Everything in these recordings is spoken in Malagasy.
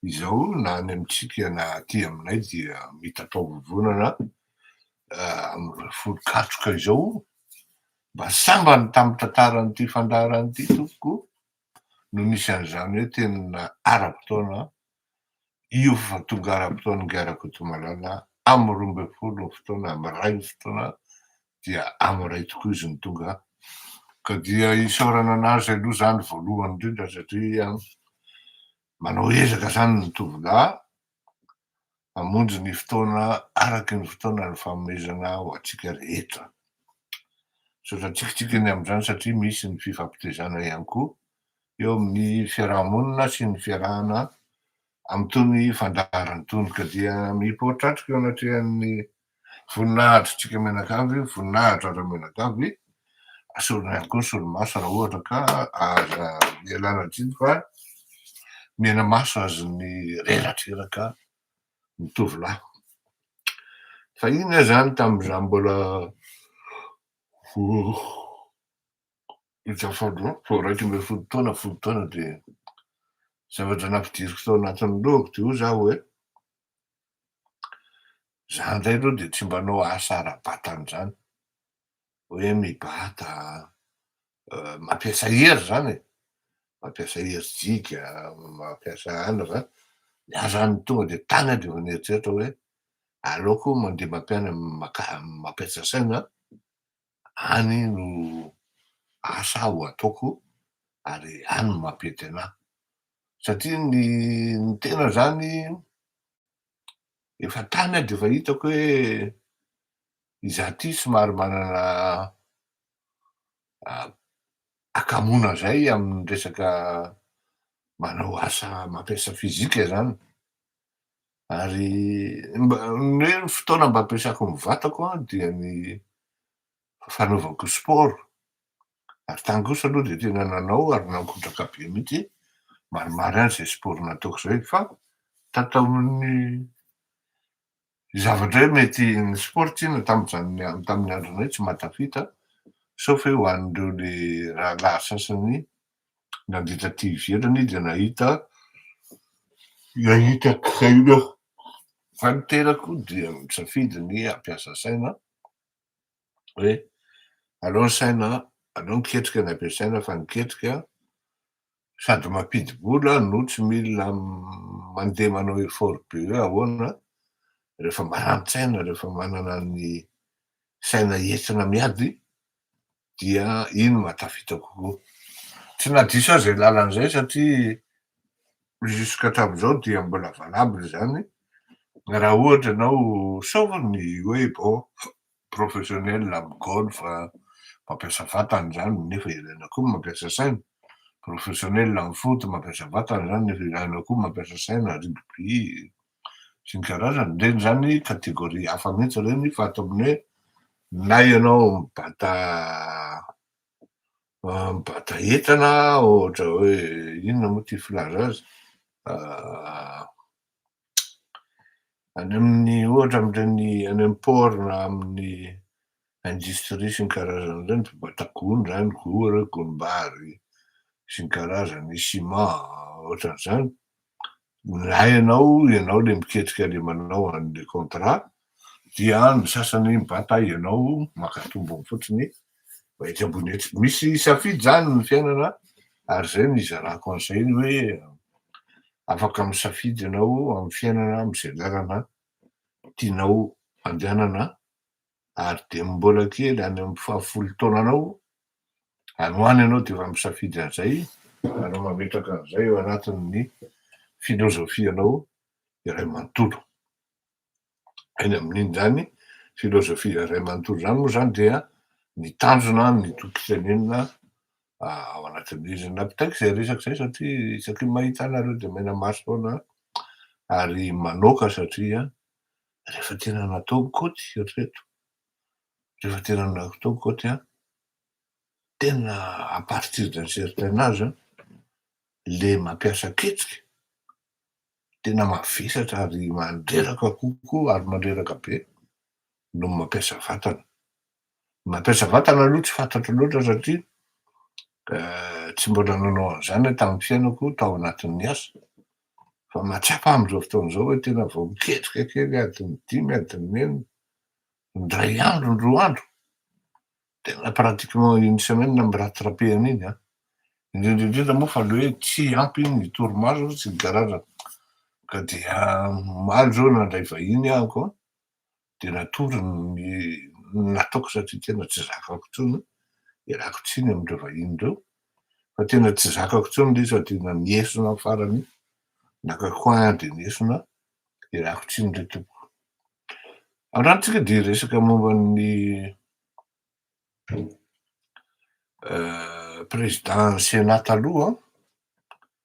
Izao na any amintsika na aty aminay dia mitatao-vovonana amin'ireo folo katroka izao mba sambany tamin'ny tantaran'ity fandaharana ity tompoko no misy an'izany hoe tena ara-potoana io fa tonga ara-potoana ingahy Rakotomalala amin'ny roa ambin'ny folo ny fotoana amin'ny iray ny fotoana dia amin'ny iray tokoa izy no tonga ka dia isaorana an'azy aloha izany voalohany indrindra satria Manao ezaka izany ny tovolahy, hamonjy ny fotoana araky ny fotoana ny fanomezana ho antsika rehetra. Misaotra tsikitsiky ny amin'izany satria misy ny fifampitezana ihany koa eo amin'ny fiaraha-monina sy ny fiarahana amin'itony fandaharan'itony ka dia mipoitra atrika eo anatrehan'ny Voninahitr'tsika mianakavy io, voninahitra aza mianakavy, asorina ihany koa ny solomaso raha ohatra ka aza ialana tsiny fa mena maso azy ny reradreraka ny tovolahy. Fahiny aho zany tamin'izaho mbola vao iraika ambin'ny folo taona, folo taona de zavatra nampidiriko tao anatin'ny lohako de hoy zaho hoe, Za ndray aloha dia tsy mbanao asa ara-batana izany, hoe mibata, mampiasa hery izany e, mampiasa hery jiga, mampiasa anona izany, za zany tonga dia tany aho dia efa nieritreritra hoe aleoko mandeha mampianatra, mampiasa saina any no asa aho ataoko ary any no mampety anahy satria ny ny tena zany efa tany aho de efa hitako hoe izaho ty somary manana akamoana zay amin'ny resaka manao asa mampiasa fizika zany Ary mba, ny hoe ny fotoana mba ampiasako ny vatako an, dia ny fanaovako sport. Ary tany kosa aloha dia tena nanao ary nankotraka be mihitsy, maromaro ihany izay sport nataoko izay, fa tato tamin'ny zavatra hoe mety, ny sport tsinona tamin'izany, tamin'ny andronay tsy mahatafita, sauf hoe ho an'ireo le rahalahy sasany Nandritra ity hiverina izy dia nahita nahita aina aho. Fa ny tenako dia nisafidy ny hampiasa saina hoe aleo ny saina aleo ny ketrika ny ampiasaina fa ny ketrika sady mampidi-bola no tsy mila mandeha manao effort be hoe ahoana rehefa marani-tsaina rehefa manana ny saina entina miady Dia iny mba tafita kokoa. Tsy nadiso aho izay lalana izay satria jusqu'hatramin'izao dia mbola valable izany raha ohatra ianao sauf ny hoe bon professionnel amin'ny golf mampiasa vatana izany nefa ilaina koa ny mampiasa saina, professionnel amin'ny foot mampiasa vatana izany nefa ilaina koa ny mampiasa saina, rugby, sy ny karazany, ireny izany catégorie hafa mihitsy ireny fa ataovy ny hoe na ianao mibata mibata entana ohatra hoe inona moa ity filaza azy any amin'ny ohatra amin'ireny any amin'ny port na amin'ny industries sy ny karazany ireny, mpibata gony izany, gora, gonimbary sy ny karazany, ciment, ohatran'izany, na ianao, ianao ilay miketrika ilay manao an'ilay contrat dia ny sasany mibata ianao maka tombony fotsiny fa etsy ambony etsy, misy safidy izany ny fiainana ary izay no hizarako an'izay ny hoe afaka misafidy ianao amin'ny fiainana amin'izay lalana tianao andehanana ary dia mbola kely any amin'ny fahafolo taonanao any ho any ianao dia efa misafidy an'izay ary mametraka an'izay eo anatin'ny filozofianao iray manontolo. Eny amin'iny izany filozofia iray manontolo izany moa izany dia ny tanjona amin'ny tokisaniana ao anatin'izy napitaiko izay resaka izay satria isaky ny mahita anareo dia menamaro foana ary manoaka satria Rehefa tena nataoko koty, eritrereto, rehefa tena nataoko koty an, tena à partir d'un certain âge an, le mampiasa kitsika tena mavesatra ary mandreraka kokoa ary mandreraka be no mampiasa vatana. Mampiasa vatana aloha tsy fantatro loatra satria tsy mbola nanao an'izany aho tamin'ny fiainako tao anatin'ny asa fa mahatsapa aho amin'izao fotoana izao hoe tena vao miketrika kely adiny dimy adiny enina indray andro indroa andro tena pratiquement une semaine na amin'ny rattrapena iny an indrindra indrindra moa fa le hoe tsy ampy ny torimaso sy ny garage ka dia omaly izao nandray vahiny aho ko Dia natory ny nataoko satria tena tsy zakako intsony, ialako tsiny amin'ireo vahiny ireo fa tena tsy zakako intsony ilay izy fa tena niesona amin'ny farany, naka coin dia niesona, ialako tsiny re tompoko. Androany-tsika dia hiresaka momba ny président ny Sénat taloha an!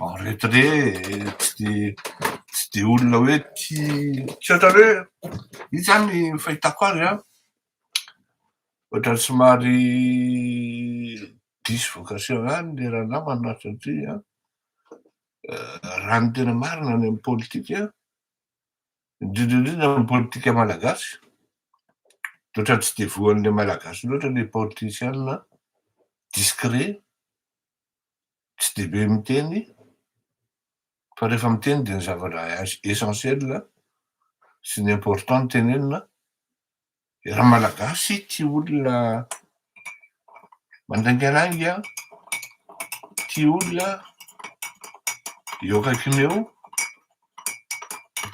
En retrait tsy tsy dia olona hoe tia tsy ohatra hoe izy zany fahitako azy an, ohatrany somary diso vocation ihany le ranamana satria raha ny tena marina any amin'ny politika, indrindra indrindra any amin'ny politika malagasy dia ohatrany tsy dia voan'ilay malagasy loatra ilay politician discret, tsy dia be miteny fa rehefa miteny dia ny zavatra essentiel sy ny important no tenenina, dia raha malagasy tia olona mandaingalainga, tia olona eo akaikiny eo,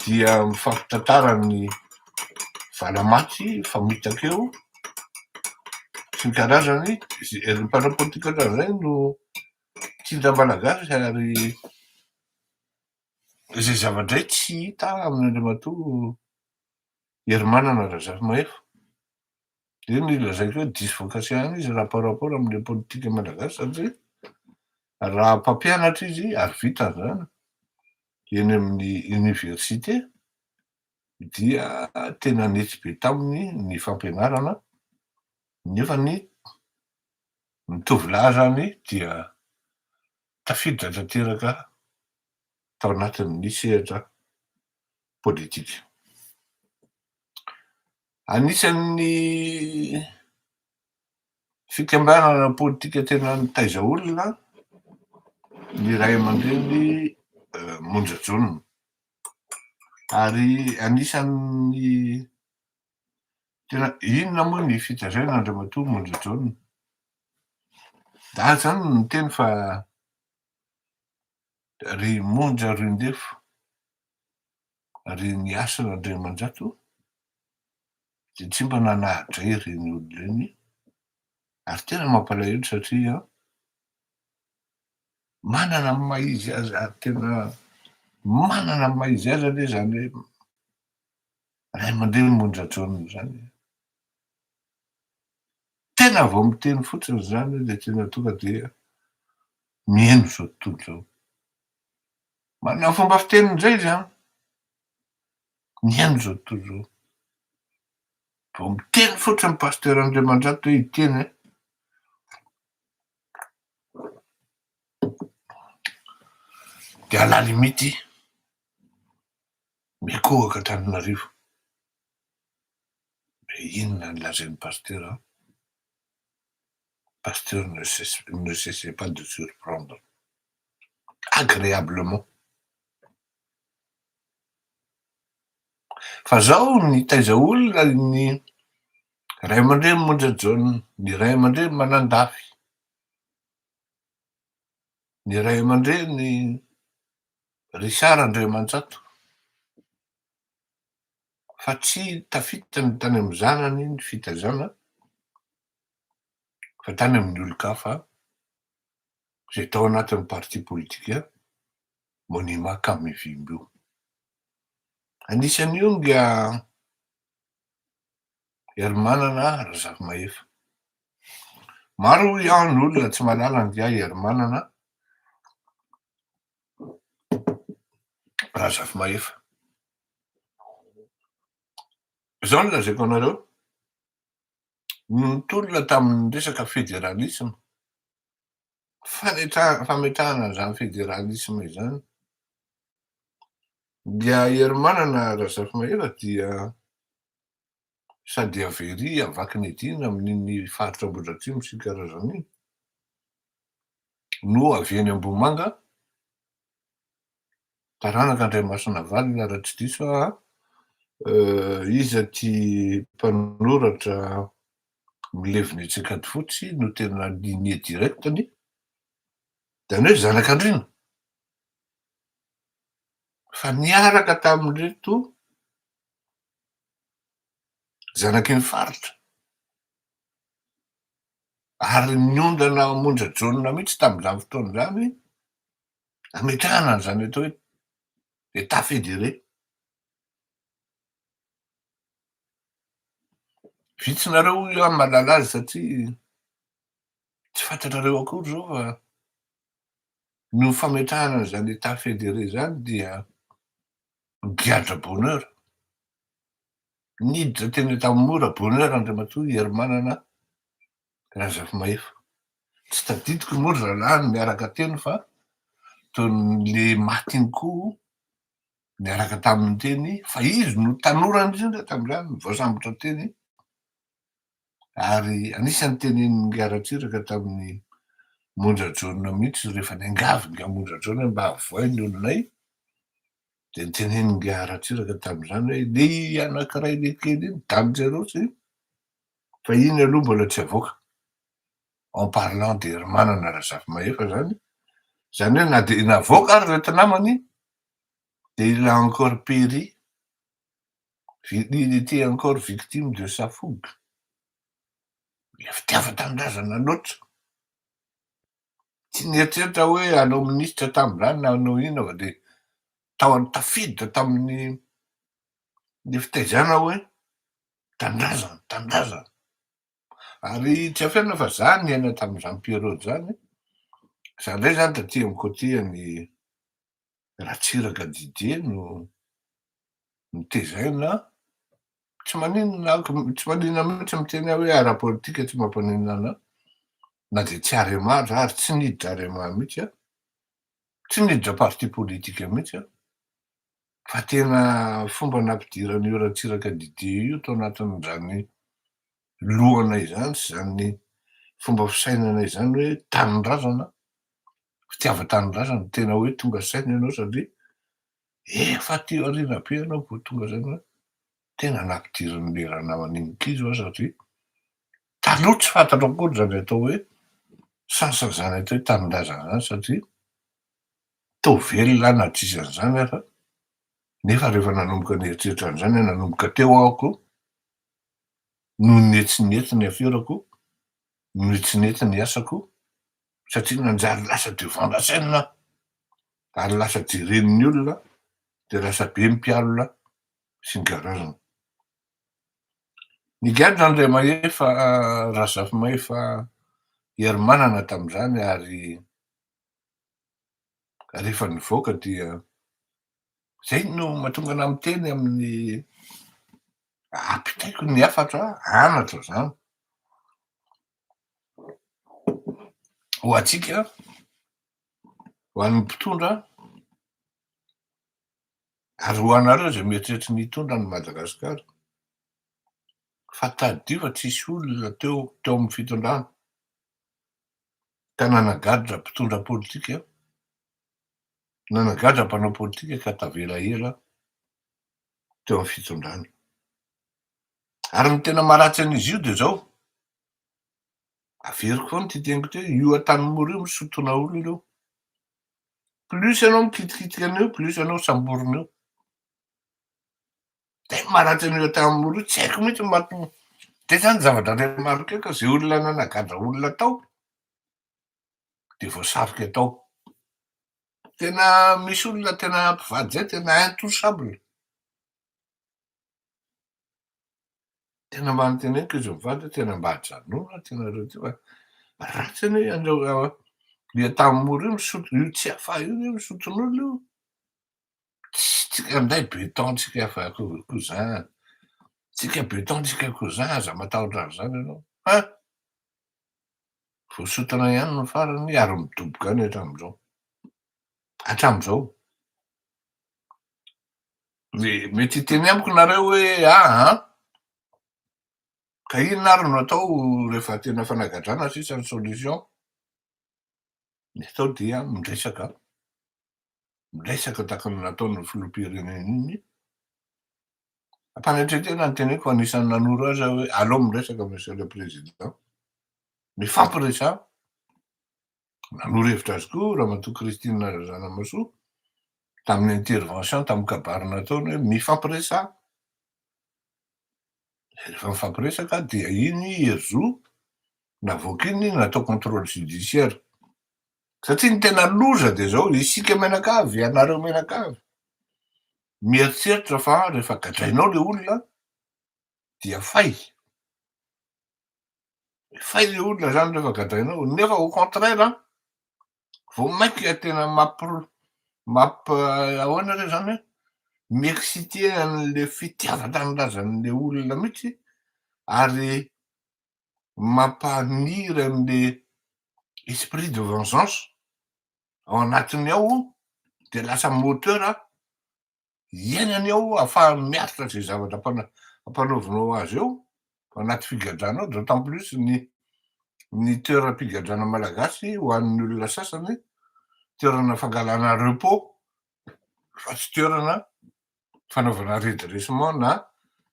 dia mifampitantara ny valamaty famitaka eo sy ny karazany ry mpanao politika ohatran'izay no tsinjo amalagasy ary izay zava-dray tsy hita amin' Andriamatoa Herimanana Razafimahefa. dia ny lazaiko hoe diso voka-tsaina izy raha par rapport amin'ilay politika malagasy satria raha mpampianatra izy ary vita izany eny amin'ny oniversite dia tena netsy be taminy ny fampianarana nefa ny ny tovolahy izany dia tafiditra tanteraka tao anatin'ny sehatra politika. Anisan'ny fikambanana politika tena nitaiza olona ny ray aman-dreny Monja John. Ary anisan'ny tena inona moa ny fitazaina Andriamatoa Monja John? Dahy zany no niteny fa ry Monja Rindefo Ary ny asan' Andriamanjato dia tsy mba nanahadray ireny olona ireny ary tena mampalahelo satria manana ny maha izy azy ary tena manana ny maha izy azy anie izany hoe ray aman-dreny monja jaona izany. Tena vao miteny fotsiny izany dia tena tonga dia mihaino izao tontolo izao. Manana fomba fiteny indray izy an! Ny an'ny izao tontolo izao. Vao miteny fotsiny ny Pasteur Andriamanjato hoe hiteny hoe dia à la limite mikohaka Antananarivo. Dia inona no lazain'ny Pasteur an! Pasteur ne ne cessez pas de surprendre agreablement fa zao nitaiza olona ny ray aman-dreny Monja John, ny ray aman-dreny Manandafy, ny ray aman-dreny Richard Andriamanjato, fa tsy tafita ny tany amin'ny zanany ny fitazana fa tany amin'ny olon-kafa izay tao anatin'ny parti politika Monima Kamivimby io. Anisan'io nga Herimanana Razafimahefa. Maro hoy aho ny olona tsy mahalala an'ingahy Herimanana Razafimahefa. Izao no lazaiko anareo, nitolona tamin'ny resaka federalisma, fametrahana an'izany federalisma izany, dia Herimanana Razafimahefa dia sa dia very havaky ny ediny amin'iny faritra Ambohidratrimo sy Karazana iny no avy eny Ambohimanga, taranaka Andraimasinavalona raha tsy diso aho an, iza ity mpanoratra milevina etsy Ankadifotsy no tena lignée directe ny izany hoe zanak'Andriana fa niaraka tamin'ireto zanaky ny faritra, ary niondrana ao Monja Jaona mihitsy tamin'izany fotoana izany hametrahana an'izany atao hoe Etat federé. Vitsy nareo hoy aho mahalala azy satria tsy fantatrareo akory izao fa ny ho fametrahana an'izany Etat federé izany dia giadra bonheur. Niditra teny Antanimora bonheur Andriamatoa Herimanana Razafimahefa. Tsy tadidiko moa ry zalahy no niaraka teny fa toy ny le maty iny koa niaraka taminy teny fa izy no tanora indrindra tamin'izany voasambotra teny ary anisan'ny tenenin'i Ingahy Ratsiraka tamin'i Monja Jaona mihitsy rehefa niangavy Ingahy Monja Jaona hoe mba avohay ny olonay dia ny tenenin'i Ingahy Ratsiraka tamin'izany hoe le anankiray le kely iny damin-jareo tsy fa iny aloha mbola tsy avoaka en parlant de ry Manana Razafimahefa izany izany hoe na dia navoaka ary ireto namany dia il a encore péri Il etait encore victime de sa fougue, ilay fitiavan-tanindrazana loatra, tsy nieritreritra hoe hanao minisitra tamin'izany na hanao inona fa dia tao an tafiditra tamin'ny ny fitaizana hoe tanindrazana, tanindrazana, ary tsy afenina fa za niaina tamin'izany période zany, za ndray zany taty amin'ny côté an'i Ratsiraka Didier no notezaina an! Tsy maninona an! Tsy maninona mihitsy ny miteny aho hoe ara-politika tsy mampaninona anà, na dia tsy Arema aza ary tsy niditra Arema mihitsy aho, tsy niditra parti politique mihitsy aho, fa tena fomba nampidiran'io Ratsiraka Didier io tao anatin'izany lohana izany sy izany fomba fisainana izany hoe tanindrazana fitiavan-tanindrazana, tena hoe tonga saina ianao satria efa aty aoriana be ianao vao tonga saina hoe tena nampidirin'ilay ranamana iny kizo aho satria taloha tsy fantatro akory izany atao hoe sansazana atao hoe tanindrazana izany satria toa velona aho na tsy izy an'izany aza nefa rehefa nanomboka nieritreritra an'izany aho nanomboka teo aho koa noho ny hetsinety ny aferako noho ny hetsinety ny asako satria nanjary lasa devant la scène ary lasa jeren'ny olona dia lasa be ny mpialona sy ny garagem. Nigadra an'i Ramahefa Razafimahefa Herimanana tamin'izany ary rehefa nivoaka dia zay no mahatonga anah miteny amin'ny apitaiko ny hafatra anatra zany ho antsika ho an'ny mpitondra ary ho anareo izay mieritreritra ny hitondra an'i Madagasikara fa tadidio fa tsy nisy olona teo teo amin'ny fitondrana ka nanagadra mpitondra politika nanagadra mpanao politika ka tavela ela teo amin'ny fitondrana. Ary ny tena maharatsy an'izy io dia izao, averiko foana ity teniko ity hoe, io Antanimora io misotona olona ireo. Plus ianao mikitikitika an'io, plus ianao samborina eo. Dia ny maharatsy an'io Antanimora io, tsy haiko mihitsy ny mahatonga. Dia izany zavatra iray maroke ka izay olona nanagadra olona tao dia voasarika tao. Tena misy olona tena mpivady izay tena intouchable. Tena manontena koa izy mivady hoe tena mba ajanona ty nareo ty fa ratsy anie anareo le tamin'ny mora io misotro io tsy afa io anie misotr'olona io tsy tsika ndray beton tsika fa koa zany tsika beton tsika koa zany aza matahotra an'izany ianao fa voasotana ihany no farany ary midoboka any hatramin'izao hatramin'izao de mety hiteny amiko nareo hoe aa ka inona ary no atao rehefa tena fanagadrana sisa ny solution ny atao dia miresaka miresaka tahaka ny nataon'ny filoham-pirenena iny ampanetren-tena ny teneko fa anisan'ny nanoro azy aho hoe aleo miresaka monsieur le président mifampiresaha Nanoro hevitra azy koa Ramatoa Christine Razanamasoa tamin'ny intervention tamin'ny kabary nataony hoe mifampiresaha. Rehefa mifampiresaka dia iny hery zo navoaka iny natao contrôle judiciaire. Satria ny tena loza dia izao, isika mianakavy, ianareo mianakavy, mieritreritra fa rehefa gadrainao ilay olona dia fay. Fay le olona zany rehefa gadrainao, nefa au contraire an, vao mainka ilay tena mampi mampi ahoana re zany hoe, mi-exciter an'le fitiavan-tanindrazan'le olona mihitsy ary mampaniry an'le esprit de vengeance ao anatiny ao, de lasa moteur iainany ao ahafahany miaritra izay zavatra ampanaovinao azy eo anaty figadrana ao, d'autant plus ny ny toeram-pigadrana malagasy ho an'ny olona sasany toerana fangalana repos fa tsy toerana fanaovana redressement na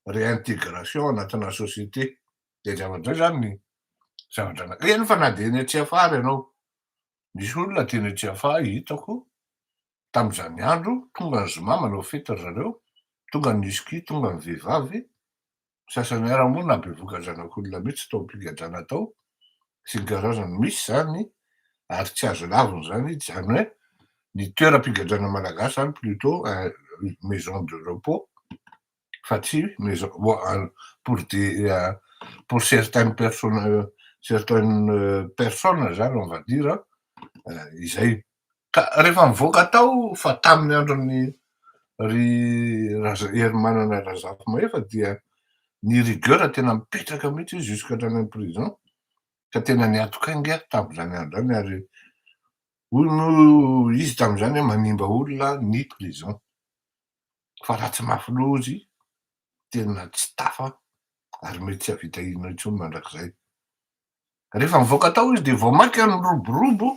réintégration anatina société, zay zavatra zay zany ny zavatra anankiray, eny fa na dia eny Tsiafahy ary ianao, misy olona aty eny Tsiafahy hitako tamin'izany andro, tonga ny zoma manao fety ry zareo, tonga ny whisky, tonga ny vehivavy, ny sasany ara moa na bevoka zanak'olona mihitsy tao am-pigadrana tao, sy ny karazany, misy izany ary tsy azo lavina izany, izany hoe ny toeram-pigadrana malagasy izany plutot un maison de repos. fa tsy pour des pour certaines personnes certaines personnes zany on va dire izay ka rehefa mivoaka tao fa tamin'ny andron'ny ry Herimanana Razafimahefa dia ny rigueur tena mipetraka mihitsy izy jusqu'à hatrany amin'ny prison ka tena niatokainga tamin'izany andro izany ary hoy moa izy tamin'izany hoe manimba olona ny prison fa raha tsy mafy loha izy tena tsy tafa ary mety tsy hahavita inona intsony mandrakizay. Rehefa mivoaka tao izy dia vao mainka niroborobo,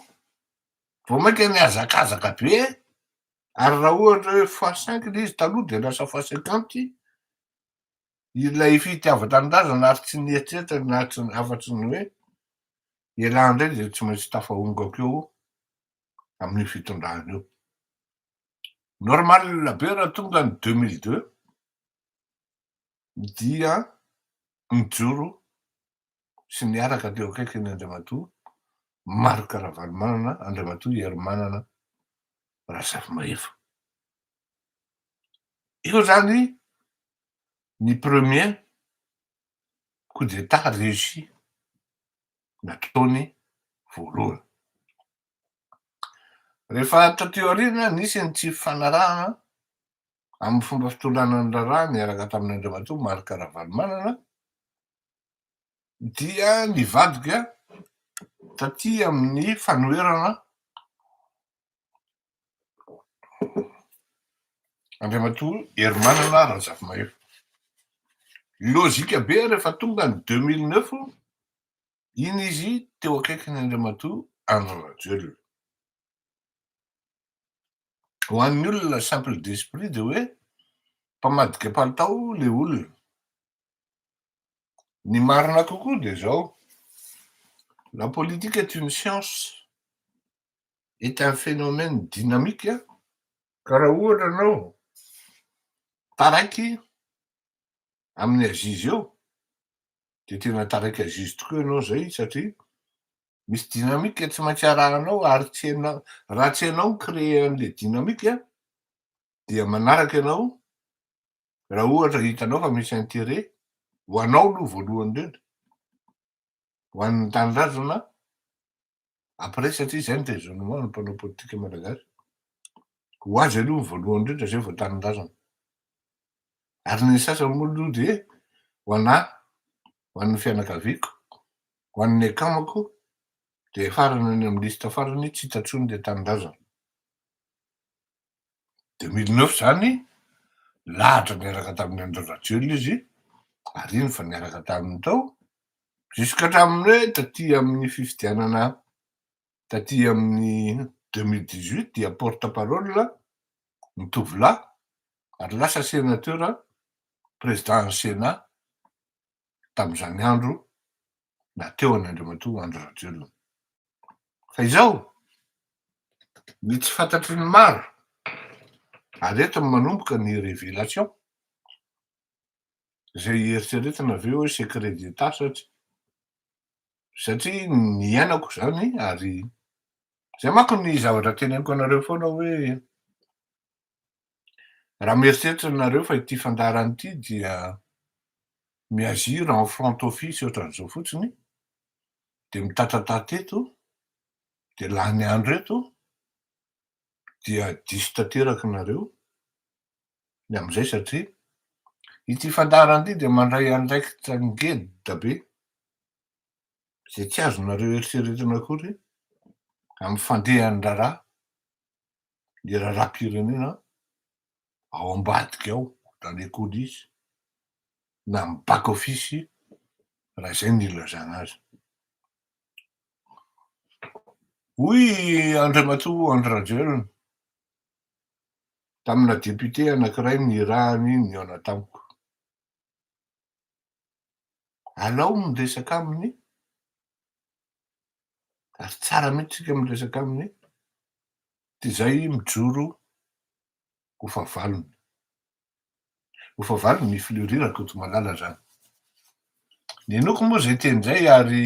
vao mainka nihazakazaka be ary raha ohatra hoe fois cinq ilay izy taloha dia lasa fois cinquante ilay fitiavan-tanindrazana ary tsy nieritreritra ny nahatr- afa-tsy ny hoe ialahy indray dia tsy maintsy tafahongako eo amin'io fitondrana io. Normal be raha tonga ny deux mille deux dia mijoro sy niaraka teo akaikin' Andriamatoa Marc Ravalomanana Andriamatoa Herimanana Razafimahefa. Io zany ny premier coup d'etat reussi nataony voalohany. Rehefa taty aoriana, nisy ny tsy fifanarahana amin'ny fomba fitondrana ny raharaha niaraka tamin'Andriamatoa Marc Ravalomanana dia nivadika taty amin'ny fanoherana Andriamatoa Herimanana Razafimahefa. Lojika be rehefa tonga ny deux mille neuf Iny izy teo akaikin' Andriamatoa Andry Rajoelina. Ho an'ny olona simple d'esprit dia hoe mpamadika palitao le olona. Ny marina kokoa dia izao, la politique est une science, est un phénomène dynamique, ka raha ohatra ianao taraiky amin'ny aziz eo dia tena tarika zizy tokoa ianao izay satria misy dynamique tsy maintsy arahanao ary tsy hainao raha tsy hainao mi-créer an'ilay dynamique dia manaraka ianao raha ohatra hitanao fa misy intérêt ho anao aloha voalohany indrindra ho an'ny tanindrazana après satria izay ny raisonnement ny mpanao politika malagasy ho azy aloha ny voalohany indrindra zay vao tanindrazana ary ny sasany moa aloha dia ho anà ho an'ny fianakaviako ho an'ny akamako dia farany any amin'ny liste farany tsy hita intsony ilay tanindrazana Dia mille neuf izany lahatra niaraka tamin'i Andry Rajoelina izy ary iny efa niaraka taminy tao jusqu'à hatramin'ny hoe taty amin'ny fifidianana taty amin'ny deux mille dix huit dia porte parole ny tovolahy ary lasa sénateur président ny Sénat tamin'izany andro na teo an'Andriamatoa Andry Rajoelina. Fa izao, ny tsy fantatry ny maro, ary eto no manomboka ny révélation, izay hieritreretana avy eo hoe secret d'Etat satria, satria niainako izany ary izay manko ny zavatra teneniko anareo foana hoe, Raha mieritreritra nareo fa ity fandaharana ity dia mi-agir en front office ohatran'izao fotsiny dia mitatratata eto dia lany andro eto dia diso tanteraka nareo ny amin'izay satria ity fandaharana ity dia mandray andraikitra ngeda be izay tsy azonareo eritreretina akory amin'ny fandehan'ny raharaha ny raharaham-pirenena ao ambadika ao dans les coulisses na amin'ny back office raha izay no ilazana azy. Hoy Andriamatoa Andry Rajoelina tamina député anankiray nirahany nihaona tamiko. Alao ny resaka aminy ary tsara mihitsy isika miresaka aminy dia izay mijoro ho fahavalony. Ho fahavalony ny Fleury Rakotomalala zany. Ny noko moa izay teny izay ary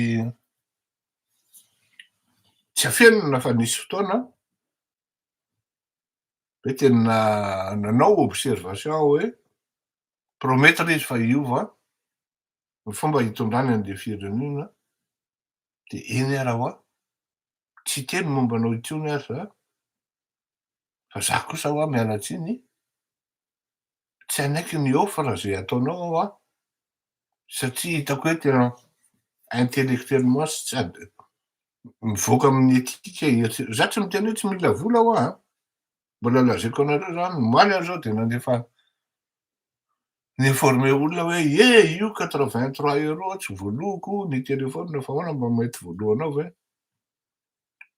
tsy afenina fa nisy fotoana hoe tena nanao observation hoe promettre izy fa hiova ny fomba hitondrany an'le firenena de eny ara hoa tsy hiteny momba anao intsony ary za fa za kosa hoa miala tsiny tsy hanaiky ny offre ze ataonao hoa satria hitako hoe tena intellectuellement sy tsy ady mivoaka amin'ny éthique za tsy miteny hoe tsy mila vola hoa a Mbola lazaiko anareo zany, omaly aho zao dia nandefa ni-informer olona hoe ye io quatre vingt trois euros tsy voaloako ny téléphone fa ahoana mba mety voaloanao ve?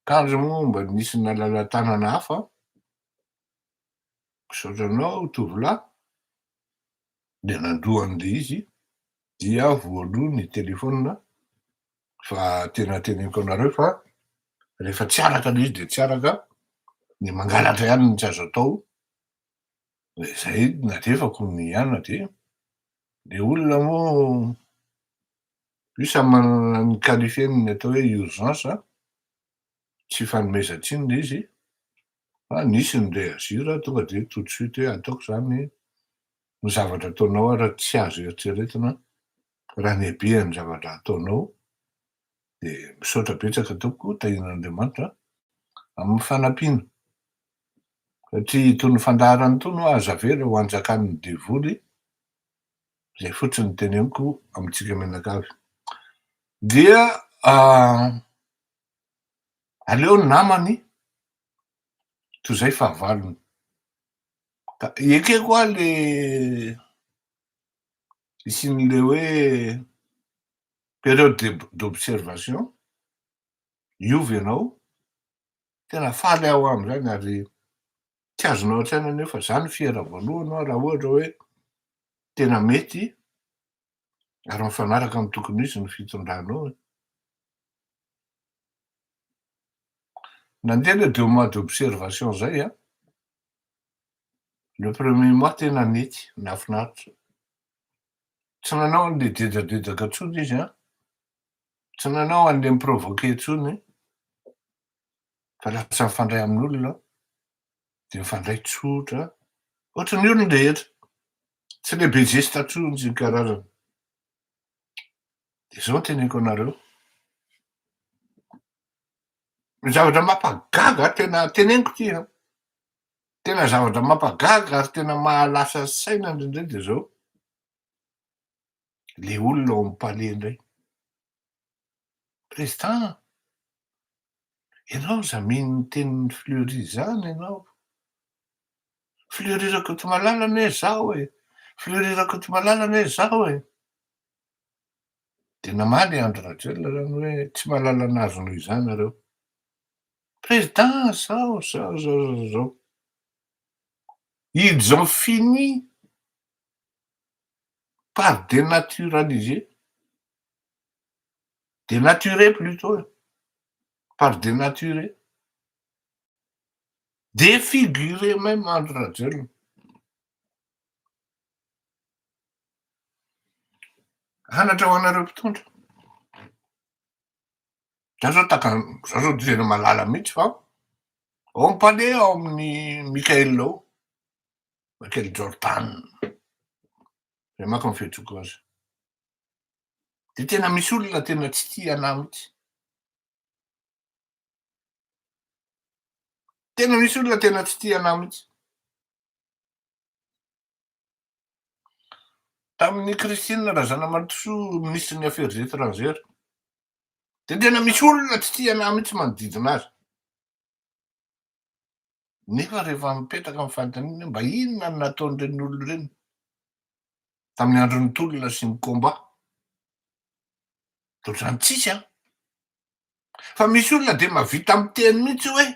Kandry moa mba nisy nalala-tanana hafa an! Misaotra anao tovolahy, dia nandroa an'ilay izy dia voaloa ny téléphone fa tena teneniko anareo fa rehefa tsy araka le izy de tsy araka de mangalatra ihany no tsy azo atao de zay nadefako ny hiana de le olona moa io samy manana ny qualifieny ny atao hoe urgence tsy fanomezan-tsiny ilay izy fa nisy ny reagir tonga dia tout de suite hoe ataoko izany ny zavatra ataonao ary tsy azo eritreretina raha ny habean'ny zavatra ataonao dia misaotra betsaka tompoko tahian'Andriamanitra amin'ny fanampiana satria itony fandaharana itony ho'a aza avela ho anjakan'ny devoly izay fotsiny no teneniko amintsika mianakavy. Dia aleo ny namany toy izay fahavalony. Ka ekeko aho le isin'le hoe période d'observation, hiova ianao, tena faly aho amin'izany ary tsy azonao an-tsaina ny hoe fa za no fiera voalohany hoa raha ohatra hoe tena mety ary mifanaraka amin'ny tokony ho izy ny fitondranao e. Nandeha le deux mois d'observation zay an, le premier mois tena nety, nahafinaritra. Tsy nanao an'le dedadedaka intsony izy an, tsy nanao an'le mi-provoquer intsony, fa lasa mifandray amin'olona aho, dia mifandray tsotra ohatry ny olon-drehetra, tsy le be zesta intsony karazana. Dia izao no teneniko anareo, ny zavatra mampagaga tena teneniko ity an, tena zavatra mampagaga ary tena mahalasa saina indray dia izao, le olona ao amin'ny palais indray, President, ianao aza mino ny tenin'i Fleury izany ianao. Fleury Rakotomalala anie izaho e! Fleury Rakotomalala anie izaho e! Dia namaly i Andry Rajoelina izany hoe tsy mahalala an'azy noho izany nareo. President, zao, zao, zao, zao, zao. Ils ont fini par dénaturaliser Dénaturer plutot e! par dénaturer, défigurer même Andry Rajoelina. Anatra ho anareo mpitondra. Za zao taka, za zao tena malala mihitsy fa ao am palais ao amin'ny Mickaël ao, Michael Jordan, zay manko ny fihetsiko azy. Dia tena misy olona tena tsy tia anah mihitsy. Tena misy olona tena tsy tia anah mihitsy. Tamin'ny Christine Razanamaritosoa ministry ny Affaires étrangères dia tena misy olona tsy tia anah mihitsy manodidina azy. Nefa rehefa mipetraka amin'ny fanontaniana hoe mba inona no nataon'ireny olona ireny tamin'ny andron'ny tolona sy ny combat? Dia ohatr'izany tsisy an! Fa misy olona dia mahavita miteny mihitsy hoe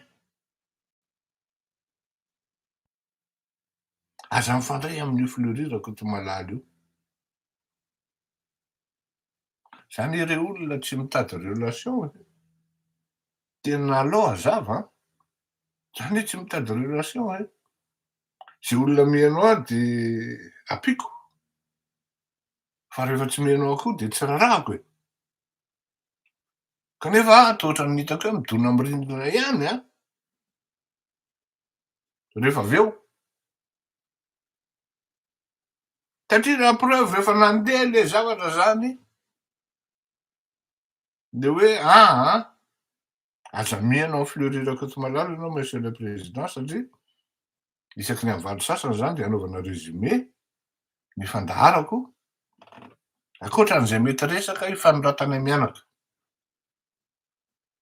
Aza mifandray amin'io Fleury Rakotomalala io. Zany ireo olona tsy mitady relation e. Tena allo hazava an. Zany hoe tsy mitady relation e. Ze olona mihaino ahy de ampiko. Fa rehefa tsy mihaino ahy koa de tsy rarahako e. Kanefa ato ohatran'ny hitako hoe midona amin'ny rindrina ihany an. rehefa avy eo. Satria la preuve rehefa nandeha le zavatra zany de hoe aa aza miheno an'i Fleury Rakotomalala ianao Monsieur le Président satria isaky ny havaly sasany zany de anaovana résumé ny fandaharako ankoatra an'izay mety resaka hifanondratanay mianaka.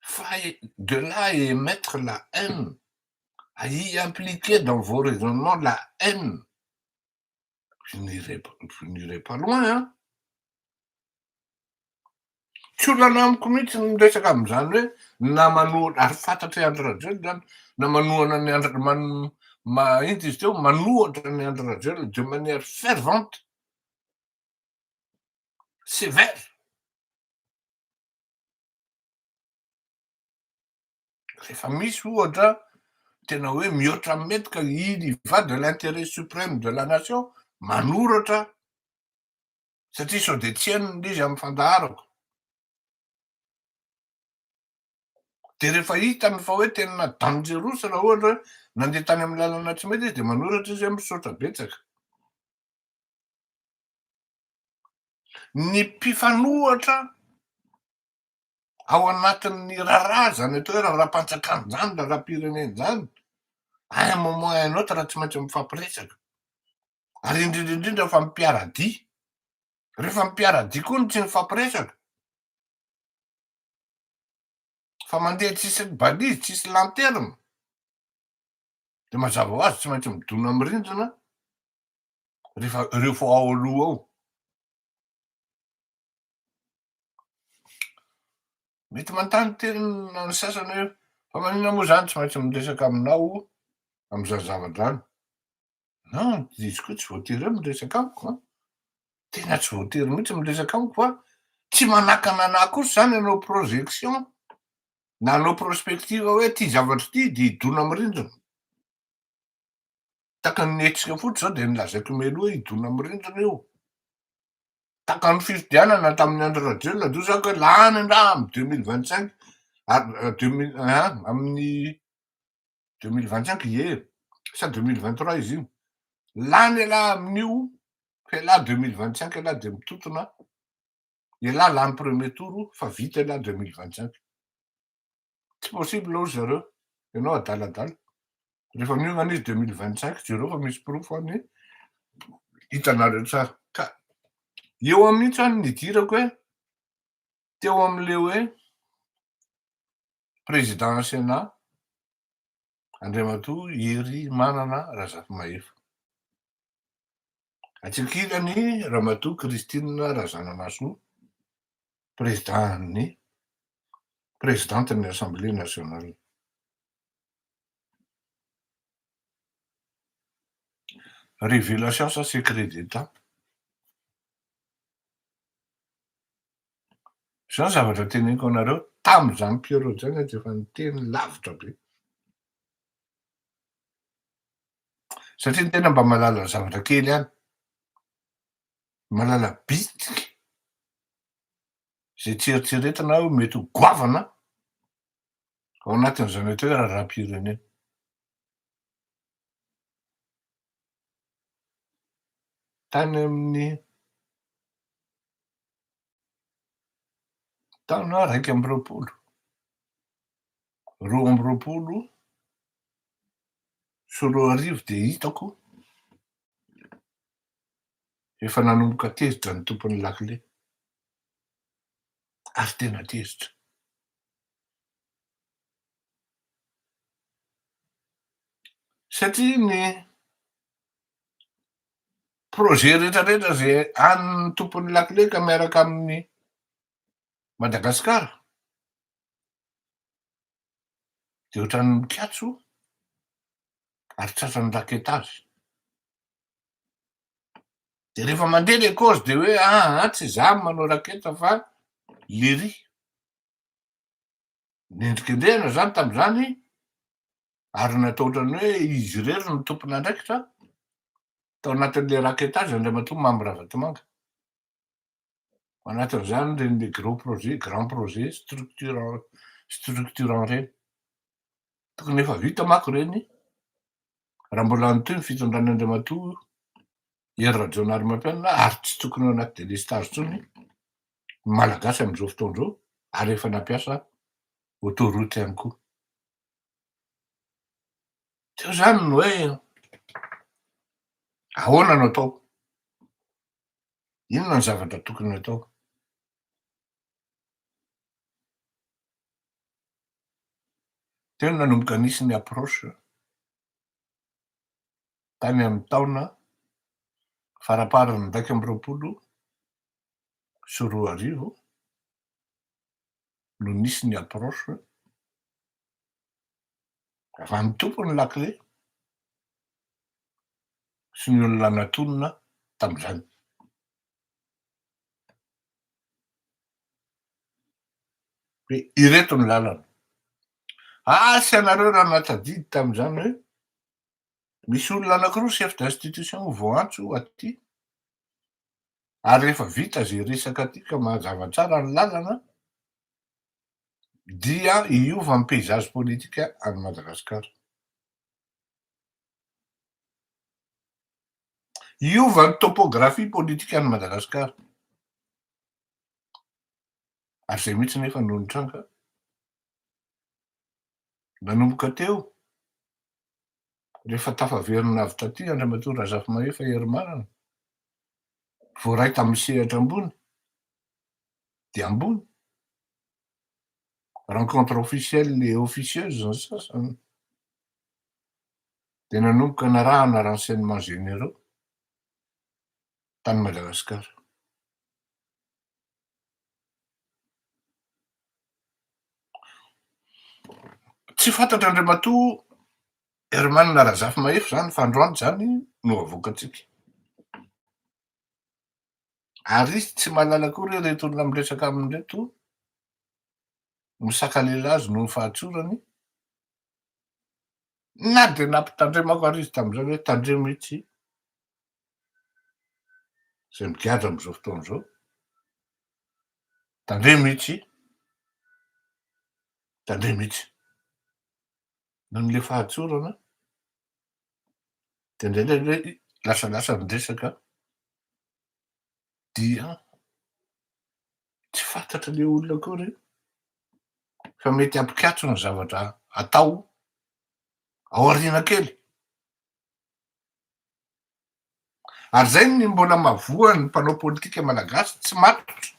Fa de là à emettre la haine, à y impliquer dans vos raisonnements la haine, vous n'irez pas, vous n'irez pas loin hein! Tsy olana amiko mihitsy ny miresaka amin'izany hoe na manohana, ary fantatr'i Andry Rajoelina izany, na manohana an'i Andry, man, ma, inty izy teo, manohatra an'i Andry Rajoelina de manière fervente, sévère. Rehefa misy ohatra tena hoe mihoatra amin'ny mety ka il y va de l'intérêt suprême de la nation, manoratra aho satria sao dia tsy henony ilay izy amin'ny fandaharako. Dia rehefa hitany fa hoe tena dangerous raha ohatra hoe nandeha tany amin'ny lalana tsy mety izy dia manoratra izy hoe misaotra betsaka. ny mpifanohitra ao anatin'ny raharaha izany atao hoe raharaham-panjakana izany, raharaham-pirenena izany, à un moment à un autre raha tsy maintsy mifampiresaka. Ary indrindra indrindra fa mpiara-dia. Rehefa mpiara-dia koa no tsy mifampiresaka, fa mandeha tsisy balise, tsisy lanterne, dia mazava ho azy tsy maintsy midona amin'ny rindrina rehefa ireo fa ao aloha ao mety mantany tenina ny sasany hoe fa manina moa zany tsy maintsy miresaka aminao am'izany zavadrany na izy koa tsy voatery hoe miresaka amiko a tena tsy voatery mihitsy miresaka amiko fa tsy manakana anah kosa zany anao projection na anao prospective hoe ty zavatra ty de hidona am'rindrina Takan'ny nihetsika fotsy zao dia nolazaiko mialoha hoe hidona amin'ny rindrina io. Takan'ny fifidianana tamin'ny Andry Rajoelina indroa zany ka lany angaha amin'ny deux mille vingt cinq ary euh, deux mille un amin'ny deux mille vingt cinq ie sa deux mille vingt trois izy iny. Lany elah amin'io fa elah deux mille vingt cinq elah dia mitotona elah lany premier tour fa vita elah deux mille vingt cinq. tsy possible hoy ry zareo, ianao adaladala. Rehefa miomana izy deux mille vingt cinq jereo fa misy porofo any e, hitanareo tsara. Ka eo aho mihitsy any nidirako hoe teo amin'ilay hoe président Sénat Andriamatoa Hery Manana Razafimahefa. Atsy ankilany, Ramatoa Christine Razanamahasoa, Prezidàn'ny Prezidàntin'ny Assemblée Nationale. Révélation sa Secret d'Etat? Izao ny zavatra teneniko anareo, tamin'izany Pierrot izany aho dia efa niteny lavitra be. Satria ny tena mba mahalala zavatra kely ihany. Mahalala bitika. Izay tsy eritreretina hoe mety ho goavana ao anatin'izany atao hoe raharaham-pirenena. Tany amin'ny Taona iraika amby roapolo, roa amby roapolo sy roa arivo dia hitako efa nanomboka tezitra ny tompon'ny lakile ary tena tezitra. Satria ny projet rehetra rehetra izay an'ny tompon'ny lakile ka miaraka amin'ny Madagasikara dia ohatran'ny mikatso ary tratran'ny raketa azy. Dia rehefa mandeha ilay cause dia hoe aa ah, ah, tsy izaho manao raketa fa lery. nendrikendrehana izany tamin'izany ary natao ohatran'ny hoe izy irery no tompon'andraikitra tao anatin'ilay raquetage Andriamatoa Mamy Ravatomanga. Ao anatin'izany ireny le gros projet, grand projet, structurant, structurant ireny. Tokony efa vita mako ireny raha mbola mitohy ny fitondran'Andriamatoa Hery Rajaonarimampianina ary tsy tokony ao anaty delestazy intsony ny Malagasy amin'izao fotoana izao ary efa nampiasa autoroute ihany koa. Teo izany ny hoe ahoana no atao? Inona ny zavatra tokony atao? Teo no nanomboka nisy ny approche tany amin'ny taona faramparan'ny iraika amby roapolo sy roa arivo no nisy ny approche raha ny tompon'ny lakile sy ny olona natonina tamin'izany. Dia ireto ny lalana. Asa ianareo raha nahatadidy tamin'izany hoe misy olona anankiroa chef d'institution voantso aty ary rehefa vita izay resaka aty ka mahazava tsara ny lalana dia hiova ny paysage politika any Madagasikara. Hiova ny topografia politikan'i Madagasikara. Ary izay mihitsy nefa no nitranga. Nanomboka teo, rehefa tafaverina avy taty Andriamatoa Razafimahefa Herimarana, voaray tamin'ny sehatra ambony dia ambony, rencontre officielle et officieuse ny sasany, dia nanomboka narahana renseignements généraux tany Madagasikara. Tsy fantatra Andriamatoa Herman Razafimahefa izany fa androany izany no havoakantsika. Ary izy tsy mahalala akory hoe ireto olona miresaka aminy ireto no sakalela azy noho ny fahatsorany, Na dia nampitandremako ary izy tamin'izany hoe tandremo itsy izay migadra amin'izao fotoana izao, tandremo itsy, tandremo itsy. Noho ilay fahatsorana dia indraindray hoe lasalasa ny resaka, dia tsy fantatra ilay olona akory fa mety hampikatso ny zavatra atao ao aoriana kely. Ary zay ny mbola mavoan'ny mpanao politika malagasy tsy matotra.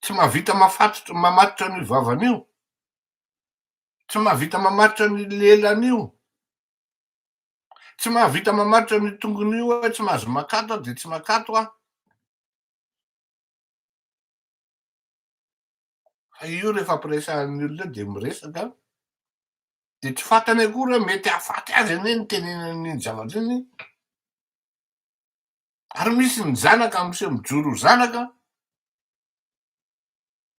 Tsy mahavita mafatotra mamatotra an'io vavany io. Tsy mahavita mamatotra ny lelany io. Tsy mahavita mamaritra an'io tongony io aho, tsy mahazo makato aho dia tsy makato aho. Fa io rehefa ampiresahan'ny olona dia miresaka dia tsy fantany akory hoe mety hahafaty azy anie ny tenenan'ny zavatra iny. Ary misy ny zanaka miseho mijoro ho zanaka.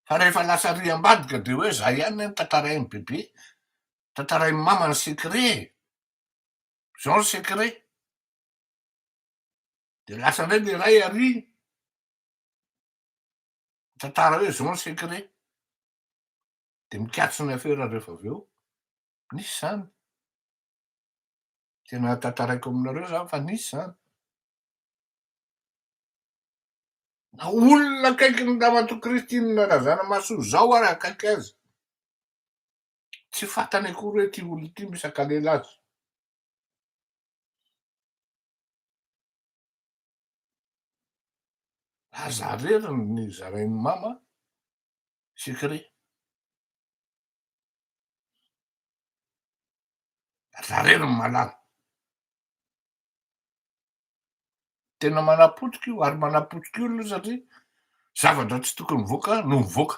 fa rehefa lasa ry ambadika de hoe za ihany an tantarainy bebe tantarainy mama ny secret e zao ny secret de lasa ndray le ray ary tantara hoe zao ny secret de mikatso ny afera rehefa avy eo nisy zany tena tantaraiko aminareo zany fa nisy zany Na olona akaiky ny Ramatoa Christine Razanamahasoa izao ary akaiky azy, tsy fantany akory hoe ity olona ity misy hakalela azy. Aza arera ny zarain'i mama secret. Aza arera ny malala. Tena manapotika io ary manapotika olona io satria zavatra tsy tokony mivoaka no mivoaka.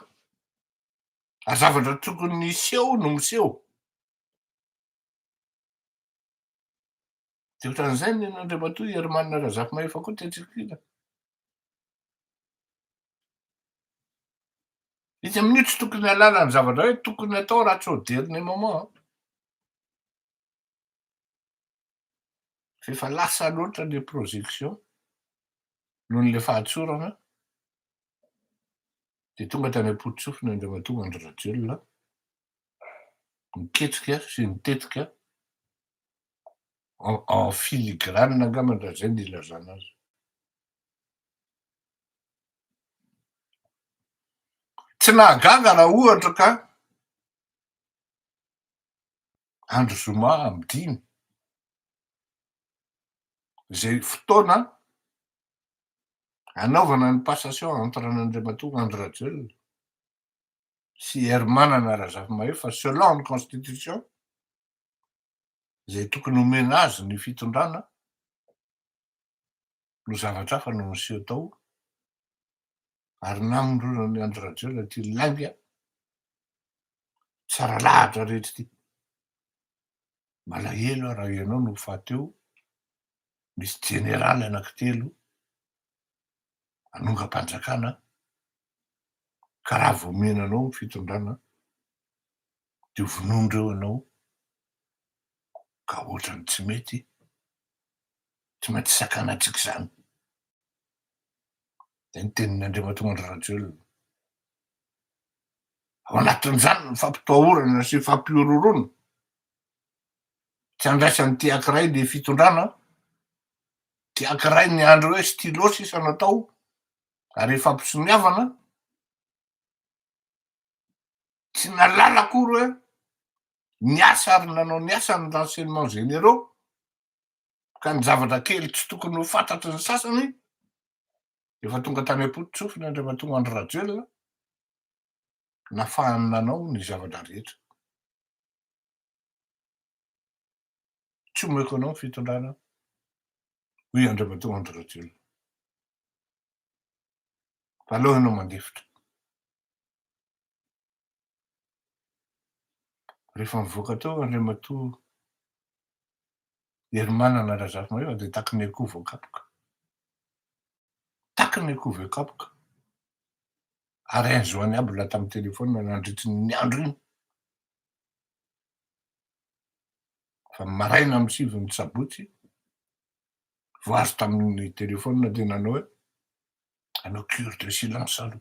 Ary zavatra tokony niseho no miseho. Dia ohatran'izay ny Andriamatoa Herimanana Razafimahefa koa tetsy ankilany. Izy amin'io tsy tokony halala ny zavatra hoe tokony atao raha tsy au dernier moment. F'efa lasa loatra le projection noho le fahatsorana de tonga tany ampototsofina Andriamatoa Andry Rajoelina niketrika sy nitetika en en filigrane angamba raha zay no ilazana azy. Tsy nahagaga raha ohatra ka. andro zoma am dimy, zay fotoana anaovana ny passation entre an' Andriamatoa Andry Rajoelina sy Hery Manana Razafimahefa selon ny constitution zay tokony homena azy ny fitondrana, no zavatra hafa no niseho tao ary namondrona an'i Andry Rajoelina ity lainga tsara lahatra rehetra ity. Malahelo aho raha ianao no fahateo misy jeneraly anankitelo anongam-panjakana ka raha vao omena anao ny fitondrana dia ho vonoin-dreo anao ka ohatran'ny tsy mety tsy maintsy sakanantsika izany. Dia ny tenin' Andriamatoa Andry Rajoelina, ao anatin'izany ny fampitahorana sy fampihorohoroana, tsy andraisan'ny te hakiray ny fitondrana, te hakiray ny andry hoe stylo sisa no atao ary ifampisoniavana, tsy nahalala akory hoe ny asa ary nanao ny asany ny renseignements généraux, Ka ny zavatra kely tsy tokony ho fantatry ny sasany efa tonga tany am-pototsofiny Andriamatoa Andry Rajoelina, nafahany nanao ny zavatra rehetra. Tsy omeko anao ny fitondrana, hoy Andriamatoa Andry Rajoelina. Fa aleo ianao mandefitra. Rehefa nivoaka teo Andriamatoa Herimanana Razafimahefa dia taky ny akoho voakapoka. Taky ny akoho voakapoka. Ary hainy zoany aby lahy tamin'ny telefaonina nandritra iny andro iny. Fa ny maraina amin'ny sivy ny sabotsy, vao azo tamin'ny telefaonina dia nanao hoe, hanao cure de silence aloha.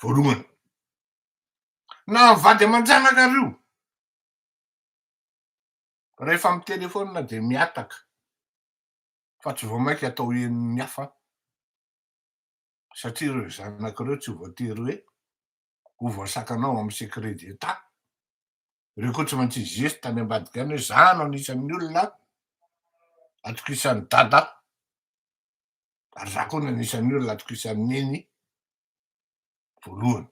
voalohany na mivady aman-janaka ry io rehefa mitelefona dia mihataka fa tsy vao mainka atao henon'ny hafa satria ireo zanaka ireo tsy voatery hoe ho voasakanao amin'ny secret d'état ireo koa tsy maintsy hijery tany ambadika any hoe za no anisan'ny olona atokisany dada ary za koa nanisan'ny olona atokisan'ny neny voalohany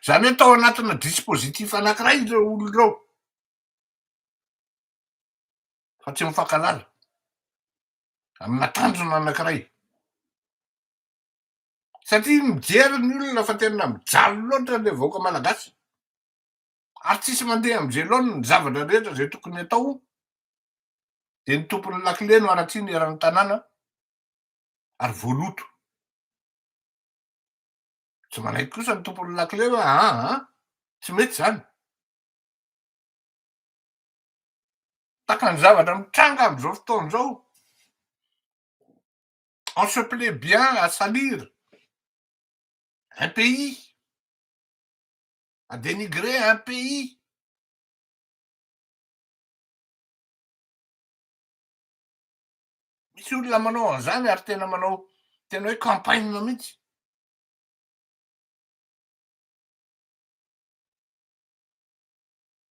zany hoe tao anatina dispositif anakiray ireo olona ireo fa tsy mifankalala amina tanjona anakiray satria mijery ny olona fa tena mijaly loatra le vahoaka malagasy ary tsisy mandeha am velon ny zavatra rehetra zay tokony atao de ny tompony lakile no aratsiny eran tanàna ary voaloto tsy manaiky kosa ny tompony lakile hoe aa ah, ah, tsy mety zany taka ny zavatra mitranga amzao fotoana zao on se plait bien à salir un pays à dénigrer un pays. Misy olona manao an'izany ary tena manao tena hoe campagne mihitsy.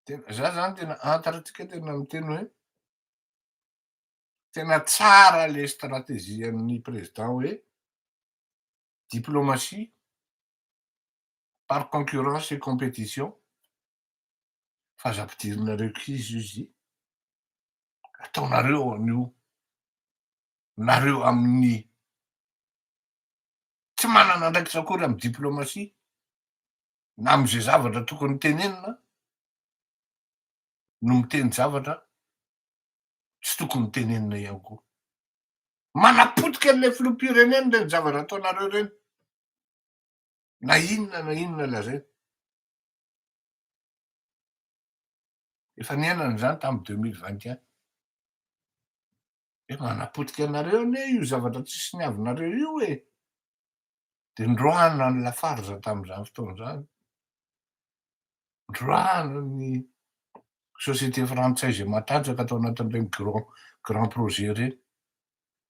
Tena za zany tena antarantsika tena miteny hoe tena tsara le stratégie an'ny président hoe diplomatie Par concurrence et compétition, fa aza ampidirinareo krizy io zy ataonareo an'io nareo amin'ny tsy manana andraikitra akory amin'ny diplomatie na amin'izay zavatra tokony tenenina no miteny zavatra tsy tokony tenenina ihany koa manapotika an'ilay filoham-pirenena ireny zavatra ataonareo ireny na inona na inona lazaina. Efa niainana izany tamin'ny deux mille vingt et un. Hoe manapotika anareo anie io zavatra tsy soniavinareo io e! Dia nindroahana ny Lafarge tamin'izany fotoana izany, nindroahana ny société frantsay izay matanjaka tao anatin'ireny grand grand projet ireny.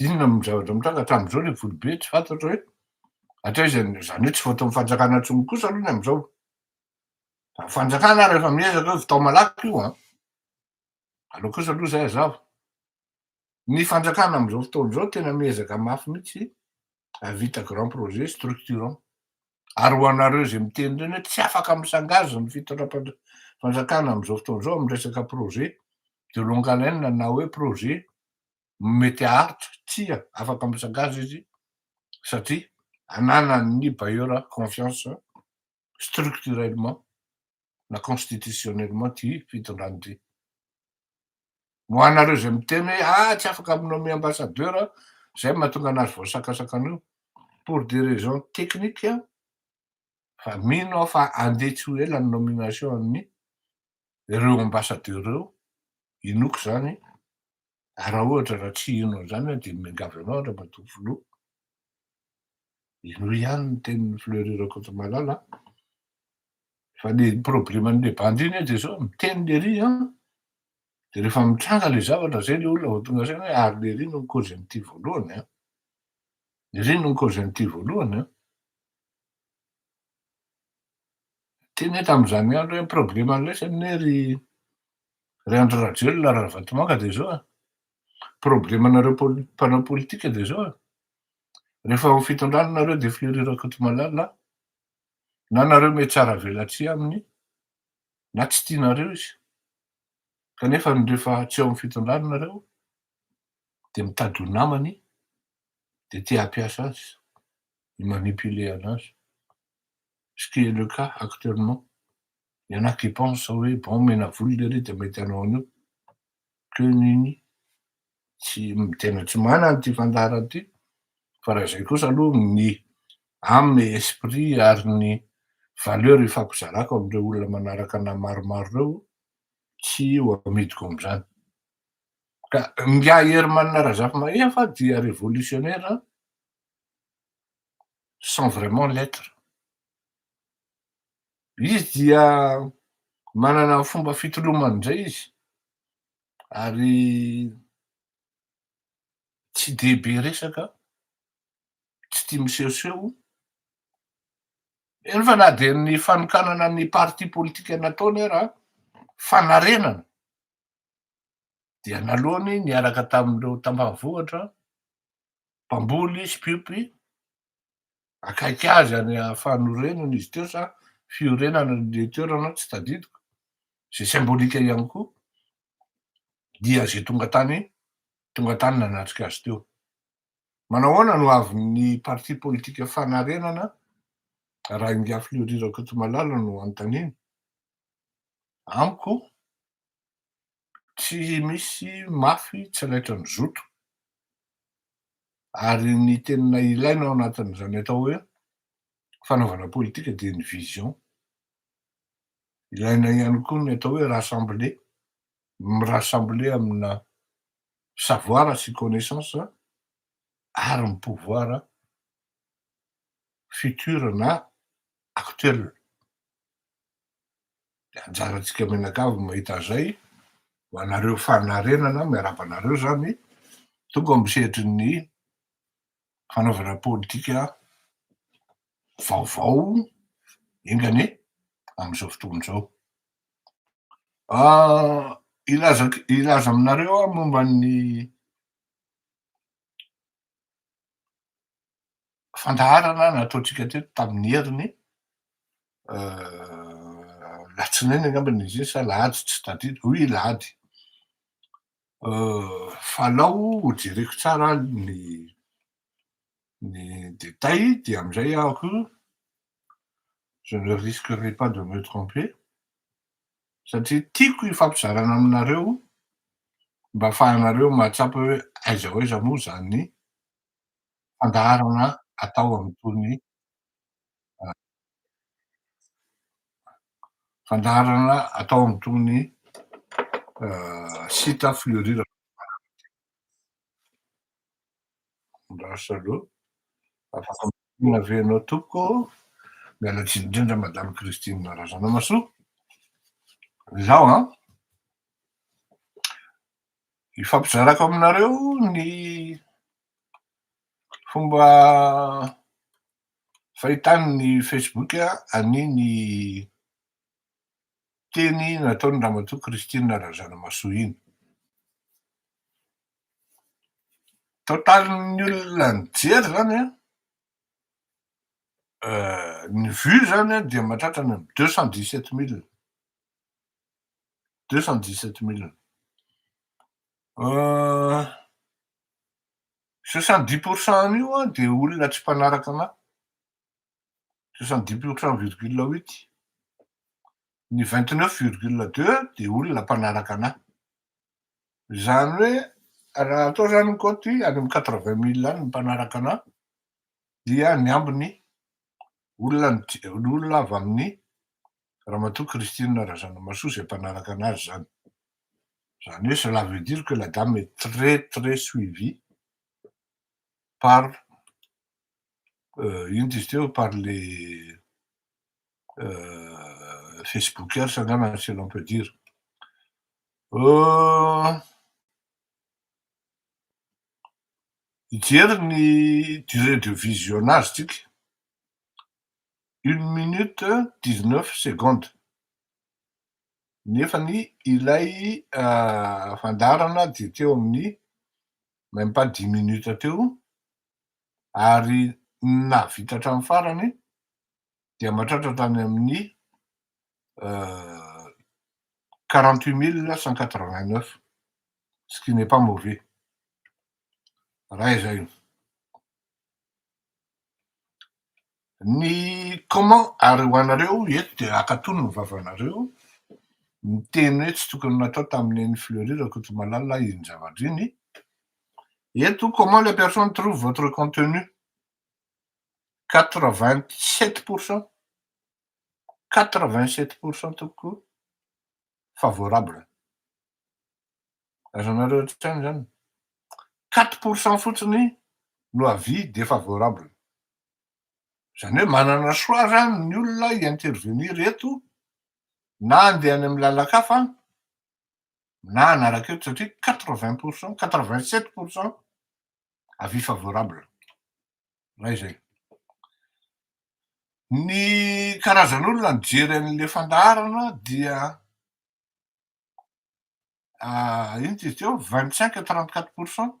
Inona no zavatra mitranga hatramin'izao ilay vola be tsy fantatra hoe hatraiza ny, izany hoe tsy voaton'ny fanjakana intsony kosa aloha ny amin'izao. Ny fanjakana ary efa miezaka hoe vitao malaky io an. Aleo kosa aloha izay hazava. Ny fanjakana amin'izao fotoana izao tena miezaka mafy mihitsy hahavita grand projet structurant. Ary ho anareo izay miteny ireny hoe tsy afaka misangazy ny fitondram-panj- fanjakana amin'izao fotoana izao amin'ny resaka projet de longue haleine na hoe projet mety haharitra, tsia, afaka misagaza izy satria ananan'ny bailleur confiance structurellement na constitutionnellement ity fitondrana ity. Ho anareo izay miteny hoe ah tsy afaka mi-nommer ambassadeur izay no mahatonga anazy voasakasakana io, pour des raisons techniques fa mino aho fa handeha tsy ho ela ny nomination an'ny ireo ambassadeur ireo inoako izany ary raha ohatra raha tsy hino an'izany aho dia miangavy anao Andriamatoa Filoha hinoy ihany ny tenin'i Fleury Rakotomalala fa le probleman'le bandy iny dia zao miteny lery an ah. dia rehefa mitranga le zavatra zay le olona vao tonga saina hoe ary lery no cause an'ity voalohany an ah. lery no cause an'ity voalohany an ah. Teny hoe tamin'izany andro hoe problème loatra anie ny hoe ry ry Andry Rajoelina ary Ravatomanga dia izao a! Problème anareo poli- mpanao politika dia izao a! Rehefa ao amin'ny fitondrana nareo dia Fleuri Rakotomalala na nareo mety tsara avelatsihy aminy na tsy tianareo izy kanefa ny rehefa tsy ao amin'ny fitondrana nareo dia mitady ho namany dia te hampiasa azy. i manipuler anazy ce qui est le cas actuellement il y'en a qui pense hoe bon omena vola lery de mety hanao an'io que nen'i tsy tena tsy manana ity fandaharana ity fa raha izay kosa aloha ny âme et esprit ary ny valeur ifampizarako amin'ireo olona manaraka anah maromaro ireo tsy ho amidiko amin'izany ka ingahy Herman Razafimahefa dia révolutionnaire sans vraiment l'etre. Izy dia manana ny fomba fitolomany indray izy ary tsy dia be resaka, tsy tia misehoseho, eny fa na dia ny fanokanana ny parti politika nataony ara fanarenana dia naloany niaraka tamin'ireo tampavohitra mpamboly sy mpiompy akaiky azy any fanorenana izy teo sa fiorenana le toerana tsy tadidiko ze symbolika ihany koa dia ze tonga tany tonga tany nanatrika azy teo manahoana no avin'ny parti politika fanarenana raha ingafy leorira kotomalala no antaniny amiko tsy misy mafy tsy laitra ny zoto ary ny tenina ilaina ao anatin'izany atao hoe fanaovana politika dia ny vision ilaina ihany koa ny atao hoe rassembler mirassembler amina savoir sy connaissance ary ny pouvoir futur na actuel dia anjarantsika mianakavy ny mahita an'izay, ho anareo fanarenana, miarahaba anareo izany, tonga amin'ny sehatry ny fanaovana politika vaovao enga anie amin'izao fotoana izao. Ah, hilaza, hilaza aminareo aho momba ny fandaharana nataontsika teto tamin'ny heriny latsinainy angamba ny izy sa lahady tsy tadidiko, oui lahady, fa alao ho jereko tsara ny ny détails dia amin'izay aho je ne risquerai pas de me tromper, satria tiako hifampizarana aminareo mba afahanareo mahatsapa hoe aiza ho aiza moa izany fandaharana atao amin'itony fandaharana atao amin'itony site Fleurir Ravatomanga itony. Mirary salut. Afaka miaina ve ianao tompoko? Miala tsiny indrindra Madame Christine Razanamasoa. Izaho an, hifampizarako aminareo ny fomba fahitany ny Facebook an'iny teny nataon'i Ramatoa Christine Razanamahasoa iny. Totalin'ny olona nijery izany ny vue izany dia mahatratra any amin'ny deux cent dix sept mille, deux cent dix sept mille. Soixante dix pour cent an'io dia olona tsy mpanaraka an'ahy. soixante-dix pour cent virgule huit, ny vingt-neuf virgule deux dia olona mpanaraka an'ahy. Izany hoe raha atao izany ny kaoty any amin'ny quatre-vingt mille any ny mpanaraka an'ahy dia ny ambiny olona olona avy amin'ny Ramatoa Christine Razanamahasoa izay mpanaraka an'azy izany. Izany hoe cela veut dire que la dame est très très suivie par inona izy teo par les Facebookers angamba si l'on peut dire. Hijery ny durée de visionnage tsika, une minute dix neuf secondes, nefa ny ilay fandaharana dia teo amin'ny même pas dix minutes teo ary ny nahavita hatramin'ny farany dia mahatratra hatrany amin'ny quarante huit mille neuf cent quatre vingt neuf, ce qui n'est pas mauvais raha izay. Ny comment ary ho anareo eto dia akatony ny vavanareo miteny hoe tsy tokony natao tamin'i Neny Fleury Rakotomalala iny zavatra iny, eto comment les personnes trouvent votre contenu quatre vingt sept pour cent quatre vingt sept pour cent tompoko favorable azonareo otrikaina zany quatre pour cent fotsiny no avis defavorable. Izany hoe manana choix avy any ny olona hi-intervenir eto na handeha any amin'ny lalan-kafa na hanaraka eto satria quatre vingt pour cent, quatre vingt sept pour cent avis favorable. Raha izay. Ny karazan'olona nijery an'ilay fandaharana dia inona izy teo? Vingt cinq à trente quatre pour cent.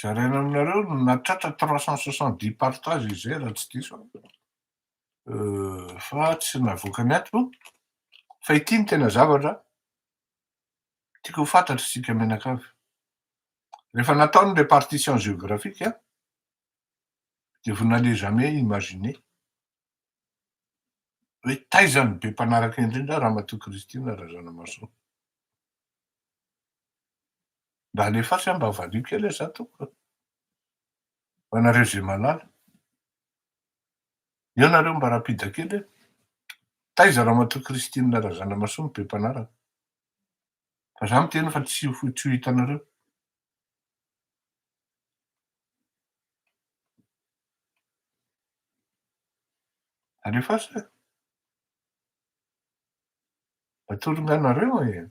zaraina aminareo no nahatratra trois cent soixante dix partage izy zay raha tsy diso aho fa tsy navoakany ato fa ity no tena zavatra tiako ho fantatra isika mianakavy rehefa natao ny répartition géographique dia vous n'allez jamais imaginer hoe taiza ny be mpanaraka indrindra Ramatoa Christine Razanamahasoa Mba alefaso aho mba havalio kely aho za tompoko a! Ho anareo ze malala. Eo nareo mba rapida kely e! Taiza Ramatoa Christine Razanamasoa no be mpanaraka? Fa za miteny fa tsy ho tsy ho hitanareo. Alefaso e! Atolony anareo e!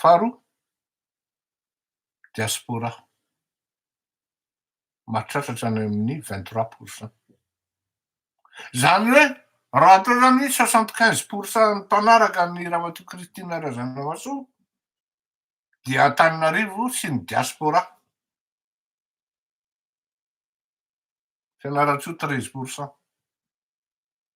Faharoa, diaspora mahatratra any amin'ny vingt trois pour cent. Izany hoe raha atao izany hoe soixante quinze pour cent mpanaraka an'i Ramatoa Christine Razanamahasoa dia Antananarivo sy ny diaspora. Fianarantsoa treize pour cent.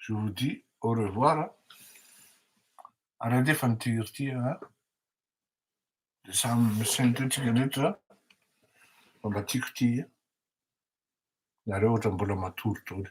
Je vous dis au revoir. Hein. Ary andefa ny tir ity a. Hein. Dia samy misentotsika rehetra fa mba tiako ity. Hein. Nareo ohatra mbola matory daholo.